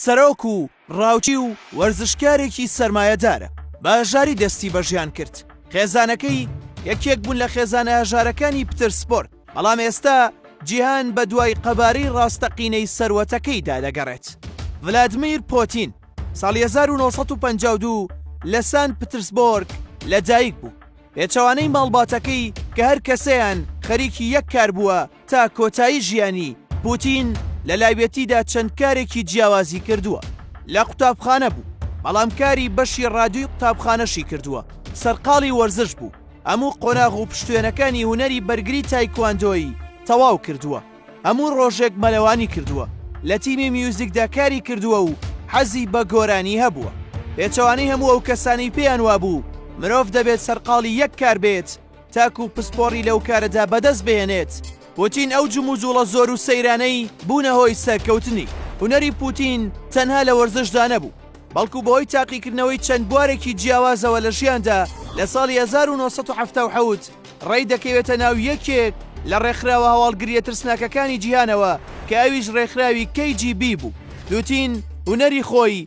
سەرۆک و ڕاوچی و وەرزشکارێکی سەرمایەدارە، بە هەژاری دەستی بە ژیان کرد. خێزانەکەی یەکێک بوون لە خێزانە هەژارەکانی پترسبۆرگ، بەڵام ئێستا جیهان بەدوای قەبارەی ڕاستەقینەی سەروەتەکەیدا دەگەڕێت. ڤلادمیر پۆتین ساڵی هەزار و نۆ سەد و پەنجا و دوو لە سانت پترسبۆرگ لەدایکبوو. پێچەوانەی ماڵباتەکەی کە هەر کەسەیان خەریکی یەک کار بووە، تا کۆتایی ژیانی، پوتین لە لاوێتیدا چەند کارێکی جیاوازی کردووە. لە قوتابخانە بوو، بەڵام کاری بەشی ڕادیۆی قوتابخانەشی کردووە، سەرقاڵی وەرزش بوو، هەموو قۆناغ و پشتوێنەکانی هونەری بەرگری تایکواندۆی تەواو کردووە، هەموو ڕۆژێک مەلەوانی کردووە، لە تیمی میوزیکدا کاری کردووە و حەزی بە گۆرانی هەبووە. پێچەوانەی هەموو ئەو کەسانەی پێیان وابوو مرۆڤ دەبێت سەرقاڵی یەک کار بێت، تاکو پسپۆڕی لەو کارەدا بەدەست بهێنێت، پوتین ئەو جموجوڵە زۆر و سەیرانەی بوونە هۆی سەرکەوتنی. هونەری پوتین تەنها لە وەرزشدا نەبوو، بەڵکو بەهۆی تاقیکردنەوەی چەند بوارێکی جیاوازەوە لە ژیاندا، لە ساڵی هەزار و نۆ سەد و حەفتا و حەوت ڕێی دەکەوێتە ناو یەکێک لە ڕێکخراوە هەواڵگرییە ترسناکەکانی جیهانەوە کە ئەویش ڕێکخراوی کەی جی بی بوو. پوتین هونەری خۆی،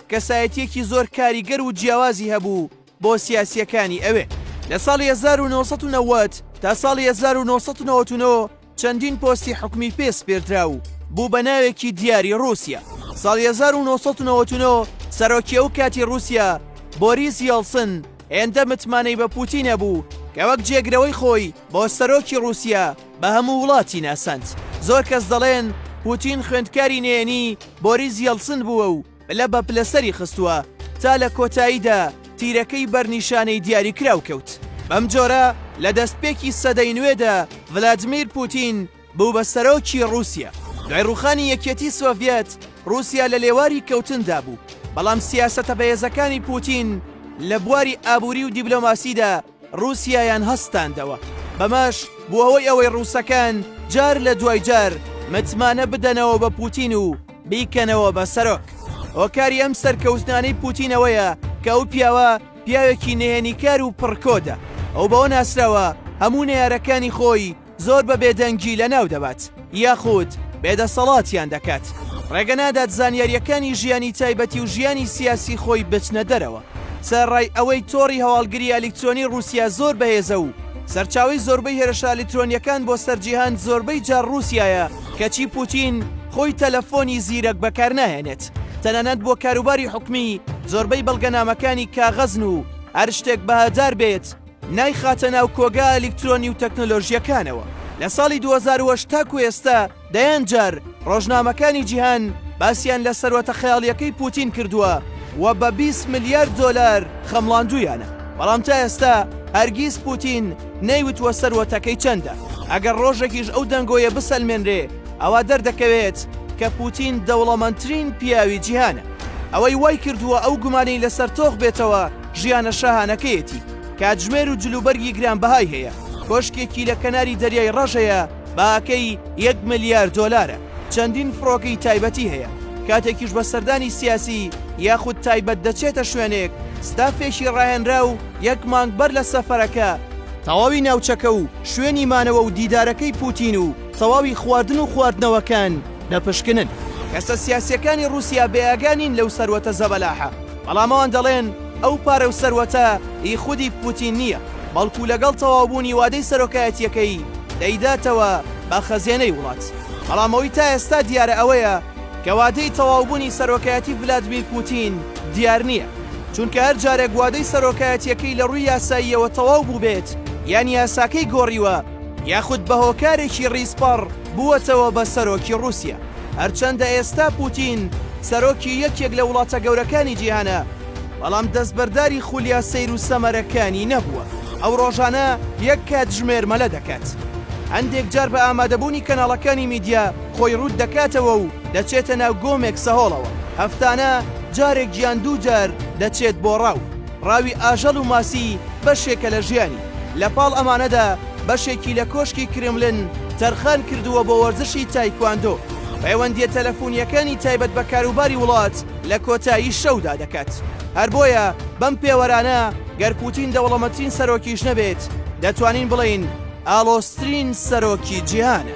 کەسایەتیەکی زۆر کاریگەر و جیاوازی هەبوو بۆ سیاسیەکانی ئەوێ. لە ساڵی هەزار و نۆ سەد و نەوەد تا ساڵی هەزار و نۆ سەد و نەوەد و نۆ چەندین پۆستی حکومی پێ سپێردرا و بوو بە ناوێکی دیاری ڕوسیا. ساڵی هەزار و نۆ سەد و نەوەد و نۆ سەرۆکی ئەو کاتی ڕوسیا بۆریس یەڵسن هێندە متمانەی بە پوتین هەبوو کە وەک جێگرەوەی خۆی بۆ سەرۆکی ڕوسیا، بە هەموو وڵاتی ناساند. زۆر کەس دەڵێن پوتین خوێندکاری نەیەنی بۆریس یەڵسن بووە و پلە بە پلە سەری خستووە تا لە کۆتاییدا تیرەکەی بەر نیشانەی دیاریکراو کەوت. بەم جۆرە لە دەستپێکی سەدەی نوێدا ڤلادمیر پوتین بوو بە سەرۆکی ڕووسیا. دوای ڕووخانی یەکیەتی سۆڤیەت، ڕووسیا لە لێواری کەوتندا بوو، بەڵام سیاسەتە بەهێزەکانی پوتین لە بواری ئابووری و دیبلۆماسیدا، ڕووسیایان هەستاندەوە، بەمەش بووەوەی ئەوەی ڕووسەکان جار لە دوای جار متمانە بدەنەوە بە پووتین و بیکەنەوە بە سەرۆک. هۆکاری ئەم سەرکەوتنانەی پووتین ئەوەیە کە ئەو پیاوە پیاوێکی نهێنیکار و پڕکۆدە، ئەو بەوە ناسراوە هەموو نەیارەکانی خۆی، زۆر بە بێدەنگی لەناو دەبات یاخود بێدەسەڵاتیان دەکات ڕێگە نادات زانیاریەکانی ژیانی تایبەتی و ژیانی سیاسی خۆی بچنە دەرەوە سەرڕای ئەوەی تۆڕی هەواڵگری ئەلیکترۆنی رووسیا زۆر بەهێزە و سەرچاوی زۆربەی هێرشە ئەلیکترۆنیەکان بۆ سەرجیهان زۆربەی جار رووسایە کەچی پوتین خۆی تەلەفۆنی زیرەک بەکارناهێنێت تەنانەت بۆ کاروباری حکومی زۆربەی بەڵگەنامەکانی کاغەزن و هەر شتێک بەهادار بێت نایخاتە ناو کۆگا ئەلیکترۆنی و تەکنەلۆژییەکانەوە. لە ساڵی دوو هەزار و هەشت تاکوو ئێستا دەیان جار ڕۆژنامەکانی جیهان باسیان لە سەروەتە خەیاڵییەکەی پووتین کردووە و بە بیست ملیار دۆلار خەمڵاندوویانە. بەڵام تا ئێستا هەرگیز پووتین نەیوتووە سەروەتەکەی چەندە. ئەگەر ڕۆژێکیش ئەو دەنگۆیە بسەلمێنرێ ئەوا دەردەکەوێت کە پووتین دەوڵەمەندترین پیاوی جیهانە. ئەوەی وای کردووە ئەو گومانەی لەسەر تۆخ بێتەوە، ژیانە شاهانەکەیەتی کاتژمێر و جلوبەرگی گرانبەهای هەیە کۆشکێکی لە کەناری دەریای ڕەژەیە باکەی یەک ملیار دۆلارە چەندین فڕۆکەی تایبەتی هەیە کاتێکیش بە سەردانی سیاسی یاخود تایبەت دەچێتە شوێنێک ستافێکی ڕاهێنرا و یەک مانگ بەر لە سەفەرەکە تەواوی ناوچەکە و شوێنی مانەوە و دیدارەکەی پوتین و تەواوی خواردن و خواردنەوەکان دەپشکنن. کەسە سیاسیەکانی ڕوسیا بێئاگا نین لەو سەروەتە زەبەلاحە. بەڵام ئەوان دەڵێن ئەو پارە و سەروەتە هی خودی پوتین نییە، بەڵکو لەگەڵ تەواوبوونی وادەی سەرۆکایەتییەکەی دەیداتەوە بە خەزێنەی وڵات. بەڵام ئەوەی تا ئێستا دیارە ئەوەیە کە وادەی تەواوبوونی سەرۆکایەتی ڤلادمیر پوتین دیار نییە، چونکە هەر جارێک وادەی سەرۆکایەتییەکەی لە ڕووی یاساییەوە تەواو بووبێت یان یاساکەی گۆڕیوە، یاخود بە هۆکارێکی ڕیزپەڕ بووەتەوە بە سەرۆکی ڕووسیا. هەرچەندە ئێستا پووتین سەرۆکی یەکێک لە وڵاتە گەورەکانی جیهانە، بەڵام دەستبەرداری خولیا سەیر و سەمەرەکانی نەبووە. ئەو ڕۆژانە یەک کاتژمێر مەلە دەکات. هەندێک جار بە ئامادەبوونی کەناڵەکانی میدیا خۆی ڕووت دەکاتەوە و دەچێتە ناو گۆمێک سەهۆڵەوە. هەفتانە جارێک یان دوو جار دەچێت بۆ ڕاو. ڕاوی ئاژەڵ و ماسی بەشێکە لە ژیانی، لە پاڵ ئەمانەدا بەشێکی لە کۆشکی کرێملن تەرخان کردووە بۆ وەرزشی تایکواندۆ، پەیوەندییە تەلەفونییەکانی تایبەت بە کاروباری وڵات لە کۆتایی شەودا دەکات. هەر بۆیە بەم پێوەرانە گەر پوتین دەوڵەمەترین سەرۆکیش نەبێت، دەتوانین بڵێین ئاڵۆزترین سەرۆکی جیهانە.